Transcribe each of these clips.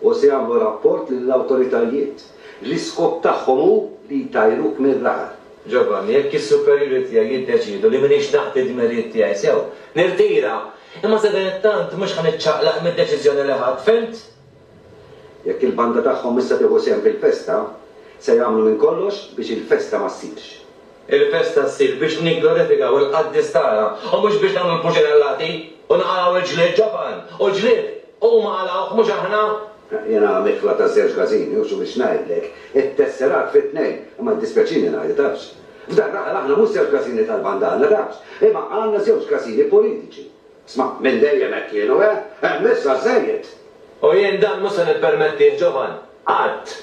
u se jagħmlu rapport lill-awtoritajiet, l-iskop tagħhom hu li jtajruk mir-raħal. Ġovanni, Jekk is-superjuri tiegħi jiddeċiedu li m'iniex naqdi d-dmirijiet tiegħi sew, nirtira, imma sadanittant mhux ħa niċċaqlaq mid-deċiżjoni li ħadt, fhimt? Jekk il-banda tagħhom issa tieħu sehem fil-festa, se jagħmlu minn kollox biex il-festa ma ssirx. Il-festa ssir biex nigglorifikaw il-qaddis tagħna u mhux biex nagħmlu l-puċinellati u nqalgħu il-ġlied ġoban, u l-ġlied huma qalgħuh mhux aħna. Jiena mikla ta' żewġ każini u x'hu biex ngħidlek, it-tesserat fi tnejn, imma jiddispjaċini ngħidu tafx. F'dan l-aħħar aħna mhux żewġ każini tal-bandana tafx, imma għandna żewġ każini politiċi. Sma', minn dejjem hekk kienu, eh? Hemm issa żżejjed! U jien dan mhux se nippermettih, Jovan! Qatt!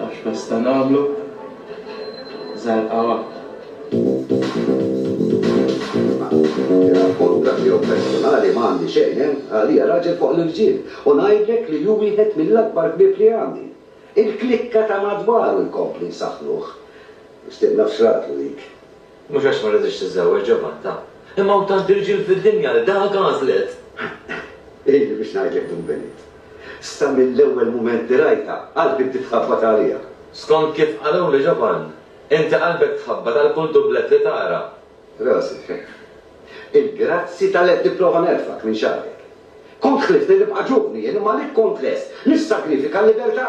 Għax nista' nagħmlu żarqawha. Mingħajr kuntratt tiegħu personali ma għandi xejn, hemm għalija raġel fuq l-irġiel u ngħidlek li hu wieħed mill-akbar ħbieb li għandi. Il-klikka ta' madwaru jkompli jsaħħnuh. Stib naf x'ratlu dik. Mhux għax ma riditx tiżżewweġ Giovanna, imma hawn tant irġiel fid-dinja li dak għażlet. Illi biex ngħidlek Dun Benit. Sa mill-ewwel mument li rajtha, qalbi bdiet tħabbat għaliha. Skont kif qaluli Giovann, inti qalbek tħabbat għal kull dublett li tara. Rosy, il-grazzji ta' l-għedt nipprova nerfgħek minn xagħrek. Kont ħliftli nibqa' ġuvni jien imma għalik kont lest nissagrifika l-libertà.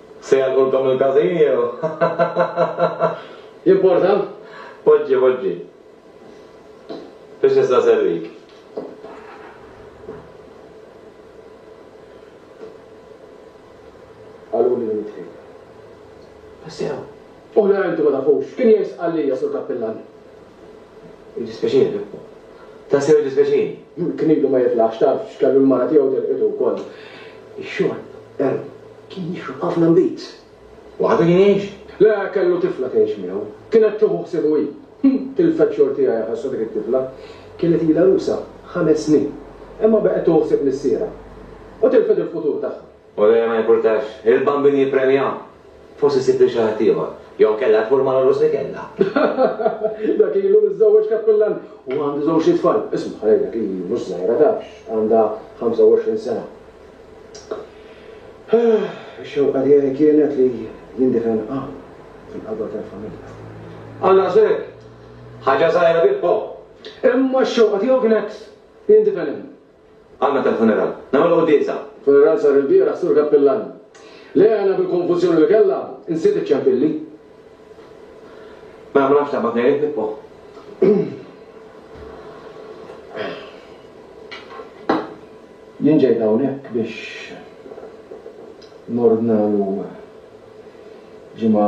Se jgħalqulkom il-każin jew? Jimporta? Poġġi, poġġi. Biex nista' nservik. Qaluli li nidħil. Tassew? Oħrajn intom ma tafux. Kien jgħid Sqallija, Sur Kappillan. Jiddispjaċini. Tassew jiddispjaċini. Kien ilu ma jitlax, taf x'kellu l-mara tiegħu telqitu wkoll. Ix-xorb, er, kien jixrob ħafna nbid. Waħdu kien jgħix? Le, kellu tifla tgħix miegħu. Kienet tieħu ħsiebu hi. Tilfet xogħol tiegħi ħassha dik it-tifla. Kienet ilha għarusa ħames snin. Imma baqgħet tieħu ħsieb missierha. U tilfet il-futur tagħha. U lejha ma jimpurtax, il-Bambin jippremja, forsi ssib lil xi ħadd ieħor. Jew kellha tmur mal-għorus li kellha. Dak ilu miżżewweġ kappillan u għandu żewġt itfal. Isma', ħalejt dak hi mhux żgħira tafx, għandha 25 sena. Ix-xewqa tiegħi kienet li jindifen hawn, fil-qalba tal-familja. Għal daqshekk? Ħaġa żgħira Pippo! Imma x-xewqa tiegħu kienet li jindifen hemm, Għandna kemm funeral? Nagħmel quddiesa? Funeral sar ilbieraħ, Sur Kappillan. Le, għajna bil-konfużjoni li kellha, nsiet iċ-ċempilli. Mela ma nafx taqbad ngħidlek, Pippo. Jien ġejt hawnhekk biex nordnalu ġimgħa.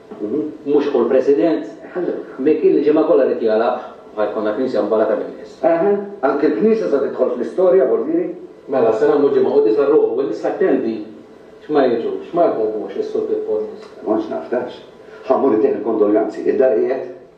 Mhux hu l-President? Min kien li ġimgħa kollha ried jagħlaq ħa jkollna Knisja mbarrata min-nies. Eħe, anki l-Knisja se tidħol fl-istorja, Bormieri? Mela, se nagħmlu ġimgħa quddiesa r-ruħ u n-nisa attendi x'ma jiġux, ma jħobbux lis-Sur Pippo n-nisa. Ma kontx naf, tafx. Ħa mmur ittieħ il-kondoljanzi. Id-dar qiegħed?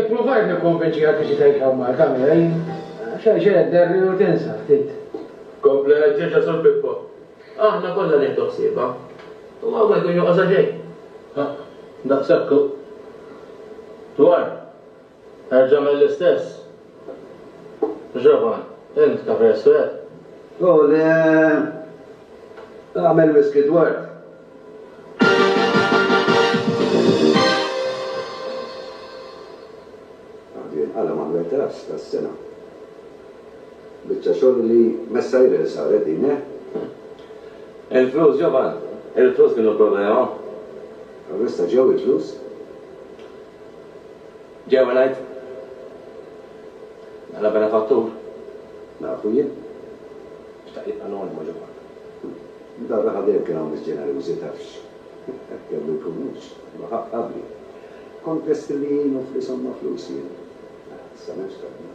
Ipprovajt nikkonvinċi għal tiġi tgħid hawn Malta miegħi. Xejn xejn derri u tinsa ftit. Kompla ġeġa sur Pippo. Aħna kollha nieħdu ħsiebha. U ma jkun joqgħodha xejn. Daqshekk hu. Dwar. Erġa' għmel l-istess. Jovan, Int kafe aswed? Oh le, għamel whisky dwarf. Għadu jinqala' mal-wetas tas-sena. Biċċa xogħol li messairel saret din, eh? Il-flus, Jovan, il-flus kienu l-problema. Allura issa ġew il-flus? Ġewwa ngħid, Bħala benefattur, nafu jien, xtaq jibqa' anonimu Ġovanni. Darraha dejjem kien hawn nies ġenerużi, tafx, hekk kellu jkun mhux, imma ħa qabli. Kont lest li ngħinu f'li somma flus jien. Issa m'hemmx tabib.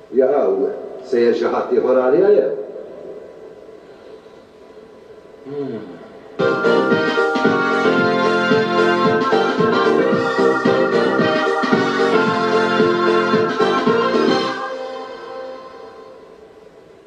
Jaqaw, sejjer xi ħadd ieħor għaliha jew?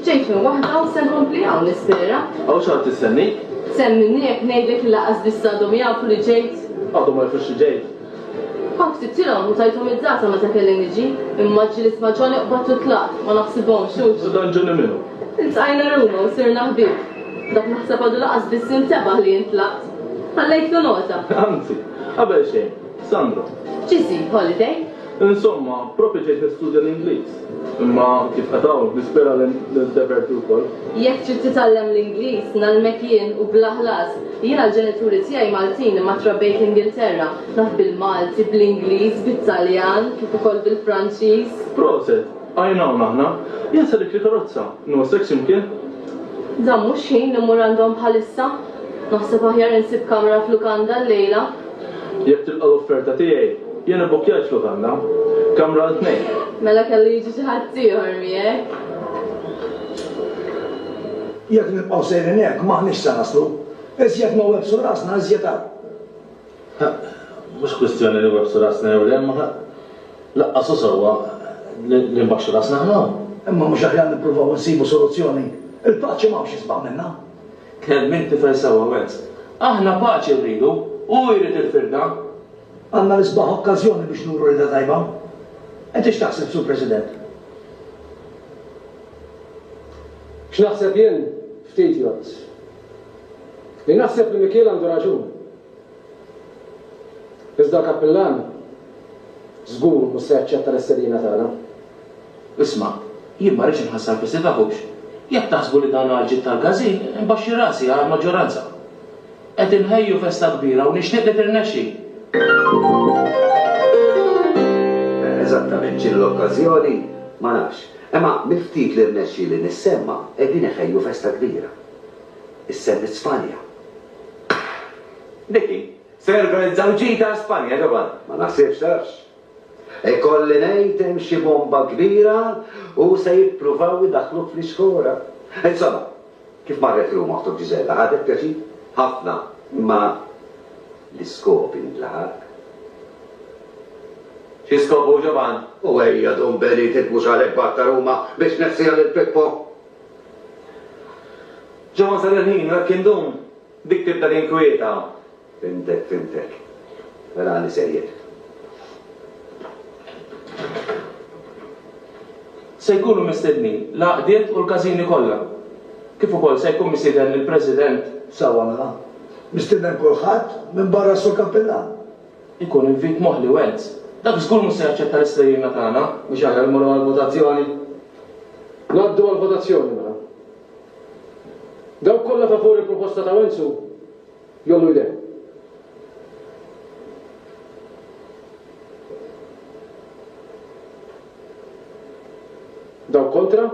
Bdejt minn waħda u se nkompli hawn nispera. Hawn xi ħadd istennik? Sehem minni jekk ngħidlek li lanqas biss għadhom jafu li ġejt. Għadhom ma jafux li ġejt? Kont ktibtilhom u tajthom id-data meta kelli niġi, imma ġġilidt ma' Johnny qbadt u tlaqt, ma naħsibhomx, hux? U dan Johnny minhu? Iltqajna Ruma u sirna ħbieb. Dak naħseb għadu lanqas biss intebaħ li int tlaqt. Ħallejtlu nota. Anzi. Qabel xejn. Sandro. Ġie jsib holiday. Insomma, proprju ġejt nistudja l-Ingliż. Imma, kif qed hawn, nispera li niddeverti wkoll. Jekk trid titgħallem l-Ingliż, ngħallmek jien u bla ħlas. Jiena l-ġenituri tiegħi Maltin imma trabbejt l-Ingilterra. Naf bil-Malti, bl-Ingliż, bit-Taljan, kif ukoll bil-Franċiż. Proset! Għajn hawn aħna. Insa dik l-karozza. No sex imkien. Dan mhux ħin li mmur għandhom bħalissa. Naħseb aħjar insib kamra f'lukanda llejla. Jekk tilqa' l-offerta tiegħi, jien ibbukkjajt f'lukanda. Kamra għal tnejn. Mela kellu jiġi xi ħadd ieħor miegħek. Jekk nibqgħu sejrin hekk, m'aħniex se naslu. Iżjed ma websu rasna, iżjed hawn. Ħaqq, mhux kwistjoni li webbsu rasna jew le, imma ħaqq laqqas hu sewwa li nbaxxu rasna aħna hawn. Imma mhux aħjar nippruvaw insibu soluzzjoni? Il-paċi m'hawnx isbaħ minnha. Tkellem int tifel sewwa, Wells. Aħna paċi rridu, hu jrid il-firda. Għandna l-isbaħ okkażjoni biex nuru rida tajba. Int x'taħseb, Sur President? X'naħseb jien? Ftit jgħodd. Jien naħseb li Mikiel għandu raġun. Iżda l-kappillan żgur mhux se jaċċetta l-istedina tagħna. Isma', jien ma rridx inħassar fi sifakux. Jekk taħsbu li dan għalġiet tal-każin, inbaxxi rasi għall-maġġoranza. Qed inħejju festa kbira u nixtieq li tirnexxi. Eżattament x'inhi l-okkażjoni ma nafx, imma mill-ftit li rnexxieli nissemma' qegħdin iħejju festa kbira. Issemmit Spanja. Niki, se norganizzaw ġita għal Spanja, ġobad? Ma naħsibx, tafx. Ikolli ngħid hemm xi bomba kbira u se jippruvaw idaħħluk fl-iskora. Insomma, kif marret Ruma oħtok Ġiżella, ħadet pjaċir? Ħafna, imma l-iskop intlaħaq. Xi skop hu, ġobad? U ejja, Dun Benit, int mhux għalhekk bgħatta Ruma biex tnefsiha lil Pippo? Ġo wasal il-ħin, u hekk indum dik tibda tinkwieta. Fhimtek, fhimtek. Mela għandi sejjer. Se jkunu mistednin l-għaqdiet u l-każini kollha, kif ukoll se jkun misieden il-President. Sewwa mela. Mistieden kulħadd, minbarra s-Sur Kappillan. Ikun invit moħli, Wens. Dak żgur mhux se jaċċetta l-istejjinna tagħna. Mhux aħjar immorru għall-votazzjoni? Ngħaddu għall-votazzjoni mela. Dawk kollha favur il-proposta ta' Wenzu jgħollu jdejhom. Dawk kontra?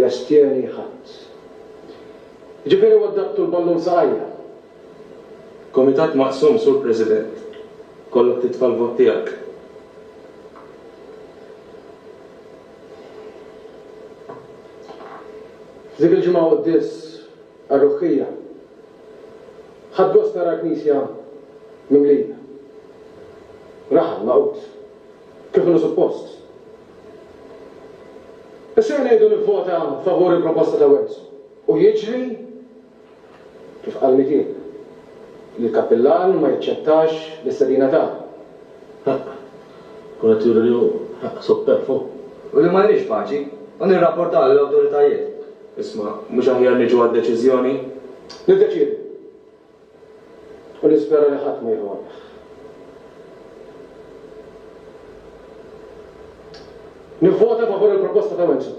Jastjeni ħadd. Jiġifieri huwa ddattu l-ballun saqajja. Komitat maqsum Sur President. Kollok titfa' l-vot tiegħek. F'dik il-ġimgħa Quddies għar-Ruħħija. Ħadt gost nara l-Knisja mimlija. Raħal magħqud. Kif inhu suppost. Issa jien ngħidu nivvota favur il-proposta ta' Wenzu u jiġri. Kif qal Mitin? Li l-Kappillan ma jaċċettax l-istedina ta'. Ħaqq. Kun qed juri li hu ħaqq supperfwu. U li ma nridx paċi. U nirrapportaw lill-awtoritajiet. Isma', mhux aħjar niġu għad-deċiżjoni? Niddeċiedu. U nispera li ħadd ma jieħu għalih. Nivvota favur il-proposta ta' Wilson.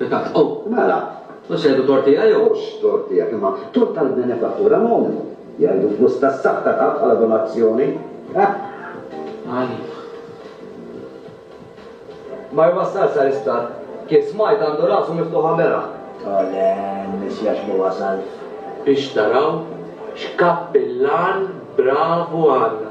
Pekat, oh, mela, u x'għidu tort tiegħi jew? Mhux tort tiegħek, imma tort tal-benefattura anonima. Jgħidu flus tas-saħħ ta' ħadd bħala donazzjoni. Għani. Ma jwassalx sal-isptar. Kif smajt għandu rasu miftuħa beraħ. O le, miss Jax ma wasalx. Biex taraw x'kappillan bravu għandna.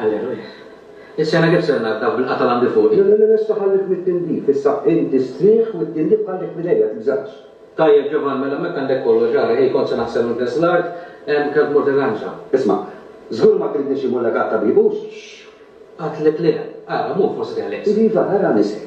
Alleluja. Is-sena kif se ngħadda bil-qata' l-għandi fuqi? Le, le, le, issa ħallik mit-tindif. Issa inti strieħ u t-tindif ħallih b'idejja, tibżax. Tajjeb, Ġovann, mela m'hekk għandek kollox, ara, hi kont se naħsel il-gnejs l-art, hemm kelb mort ir-ranċa. Isma', żgur ma tridni xi mullek għat-tabib, hux? Xx! Għedtlek le. Ara, mur, forsi teħles. Iva, ara nisek.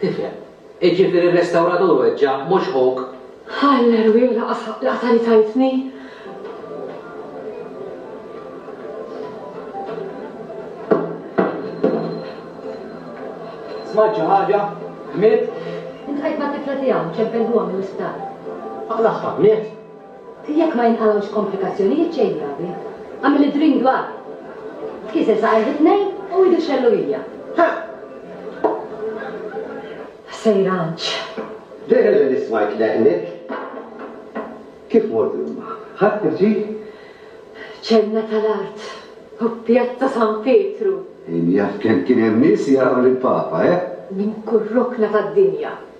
Tifhem. Iġifieri r-restawratur weġġa', mhux ħuk? Alla rwieħ laqas laqta li tajtni! Smajt xi ħaġa? Miet? Iltqajt mat-tifla tiegħu, ċempeltuha mill-isptar. Aqlagħha, miet? Jekk ma jinqalgħux komplikazzjonijiet xejn gravi, għamel id-drink dwar. Tkisser saqajh it-tnejn u idu x-xellugija. Ħa! Sejranċ! Dehre li smajt leqnek. Kif mortu imma? Ħadt l-irġiel? Ċenna tal-art u Pjazza San Pietru! Min jaf kemm kien hemm nies jaraw lill-Papa, eh? Minn kull rokna tad-dinja.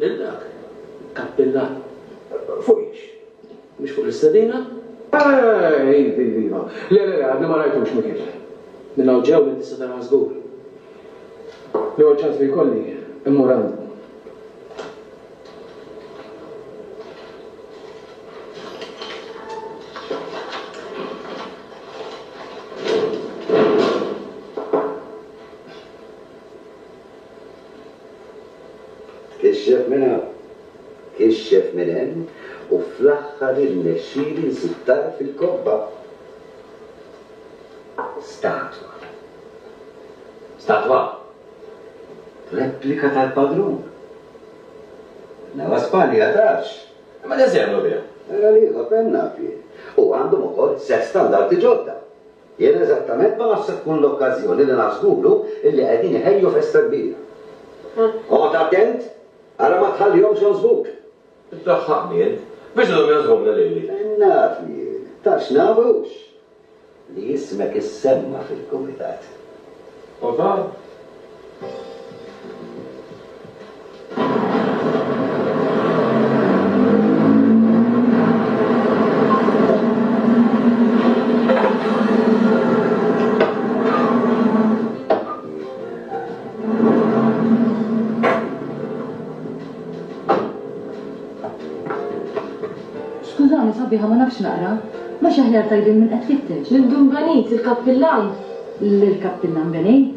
Lil dak, kappillan. Fuq hiex? Mhux fuq l-istedina? Eh, iv, iv, iva. Le, le, le, għadni ma rajtux, Mikiel. Minn hawn ġew inti se taraha żgur. L-ewwel ċans li jkolli, immur għandu. Kixxef minn hawn, kixxef minn hemm u fl-aħħar irnexxieli nsib tarf il-kobba. Statwa. Statwa! Replika tal-Padrun. Newwa Spanja, tafx? Mela x'se jagħmlu biha? Mela l-ieħor penna fih. U għandhom ukoll żewġ standardi ġodda. Jien eżattament ma nafx se tkun l-okkażjoni li nażguru illi qegħdin iħejju festa kbira. Oqgħod attent ara ma tħallihomx jonsbuk! Iddaħħaqni int, biex idhom jonsbuna lili! Naf jien, ta' x'naf hux, li ismek issemma' fil-kumitat. U ta'? Skużani, sabiħa, ma nafx naqra. Mhux aħjar tgħidilli min qed tfittex? Lil Dun Benit, il-Kappillan. Lill-Kappillan Benit?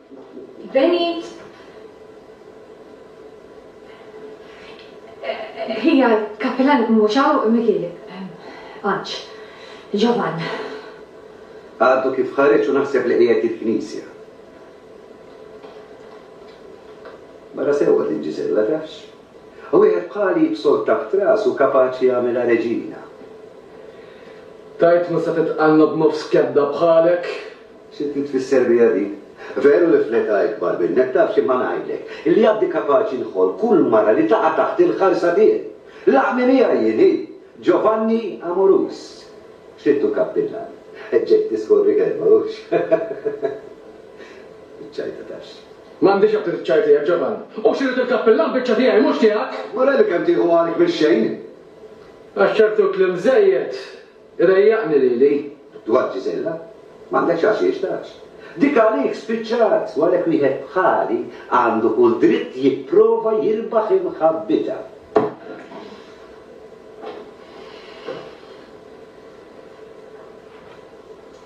Venit Hija l-kapillan mhux hawn Miki Għanġ. Ġovann. Għadu kif ħareġ u naħseb li qiegħed il-knisja. Mara sewwa din Ġiżella tafx. U wieħed bħali jibsol taħt rasu kapaċi jagħmilha reġina. Tajt ma se titqannob nofs kebda bħalek, Sibni tfisser biha din? Veru li fl-età ikbar minnek, taf xi ma ngħidlek, illi għaddi kapaċi nħoll kull mara li taqa' taħt il-ħarsa tiegħi. Laħqni miegħi jien hi! Giovanni Amorus. X'ridtu kappillan? Ġejt tiskorri kelma, hux? Iċ-ċajta tafx. M'għandix aptit iċ-ċajta jien, Giovanni. Hux irid il-kappillan, biċċa tiegħi, mhux tiegħek! Mara li kemm tieħu għalik mix-xejn! Għax ċertu kliem żejjed Irejjaqni lili, dwar Gisella, m'għandekx għal xi jixtaqx. Dik għalik spiċċat u għalhekk wieħed bħali għandu kull dritt jipprova jirbaħ imħabbitha.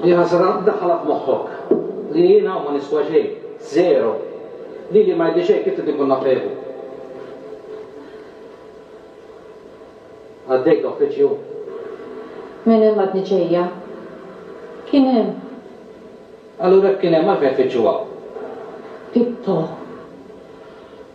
Hi ħasra ddaħħalha f'moħħok li jien hawn ma niswa xejn, żero. Lili ma jidhli xejn kif trid inkun naf Evu. Għaddejt uffiċċju. Minn hemm għadni ġejja. Kien hemm. Allura jekk kien hemm għalfejn tfittxu hawn? Pippo.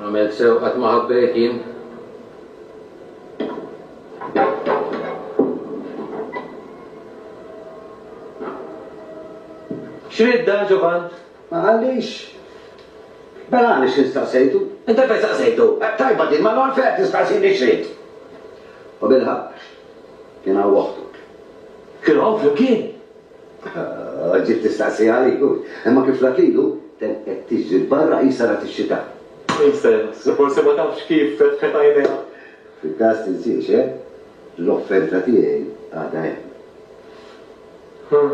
Għamilt sew qatt ma ħabbejt jien. X'ried dan Ġovan? Ma qallix. Mela għaliex jien staqsejtu? Inta fejn staqsejtu? Tajba din, mela għalfejn qed tistaqsini x'ried? U bilħaqq, kien hawn oħtuk. Kienu hawn flimkien? Ġiet tistaqsi għalik u, imma kif rat lilu, ten qed tiġri l-barra qisha rat ix-xita. Insens, forsi ma tafx kif fetħet għajnejha. Fil-każ tinsiex, eh? L-offerta tiegħi għadha hemm. Ħa.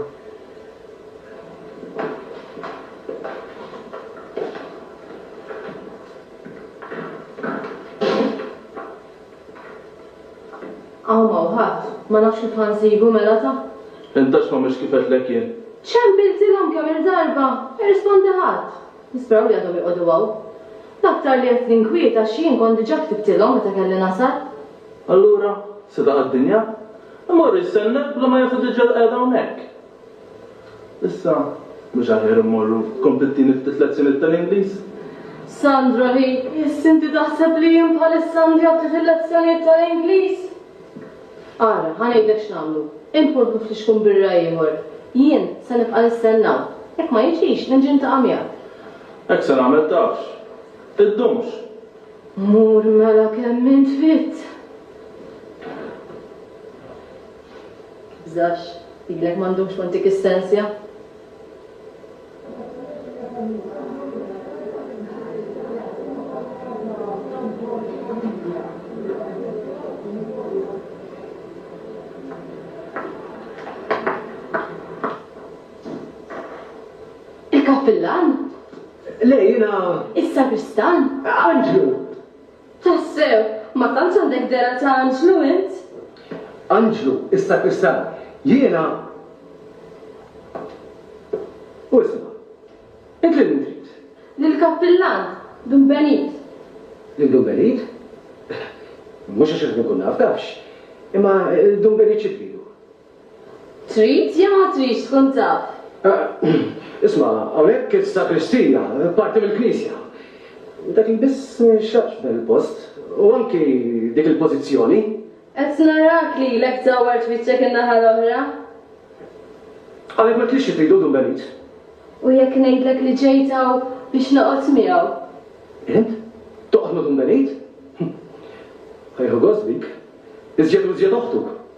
Hawn m'hawn ħadd. Ma nafx kif ħa nsibu mela ta. Intax ma mhux kif għedtlek jien. Ċempiltilhom kemm-il darba, ma jirrispondi ħadd. Nisperaw li għadhom joqogħdu hawn. L-aktar li qed ninkwiet għax jien kont diġà ktibtilhom meta kelli nasal. Allura, seta' għad-dinja? Imur jistenna bla ma jafu diġà l-qegħda hawnhekk? Issa, mhux aħjar immorru? Tkompli tini ftit lezzjoniet tal-Ingliż? Sandra, Hi, iss inti taħseb li jien bħalissa għandi għad ftit il-lezzjoniet tal-Ingliż? Ara, ħa ngħidlek x'nagħmlu, int mur ħu flixkun birra ieħor. Jien se nibqa' nistenn hawn. Jekk ma jiġix, inġi ntaqa' miegħek. Hekk se nagħmel tafx. Iddumx! Mur mela kemm int fit! Tibżax, lilek m'għandux kont dik is-sensja. Il-kappillan? Le, jiena. Is-sagristan? Anġlu! Tassew, ma tantx għandek dehra ta' anġlu int! Anġlu, is-sakristan, jiena. U isma', int lil min trid? Lill-kappillan, Dun Benit. Lil Dun Benit? Mhux għax irid inkun naf, tafx. Imma Dun Benit xi tridu? Trid jew ma tridx tkun taf? Isma', hawnhekk is-sagristija, parti mill-knisja. Dak li biss ma jinxtaqx f'dan il-post, u anki dik il-pożizzjoni. Qed narak li ilek dawwart wiċċek in-naħa l-oħra. Għalhekk m'għedtlix xi tridu, Dun Benit? U jekk ngħidlek li ġejt hawn biex noqgħod miegħu? Int? Toqgħod ma' Dun Benit? Hu jieħu gost bik. Iżjed u iżjed oħtuk.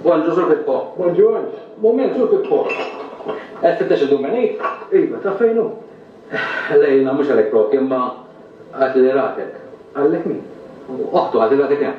Bonġu sur Pippo. Bonġu għanġ. Moment sur Pippo. Għed fittex il-dumenit? Iva, ta' fejnu? Lejna, mux għalek propju, imma għat li ratek. Għallek min? Oħtu għat li ratek jem.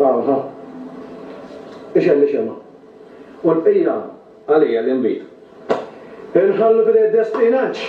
Aha. Ixemmi xemgħa. U l-bqija għalija l-inbid. Inħallu f'idejn id-destin, għax.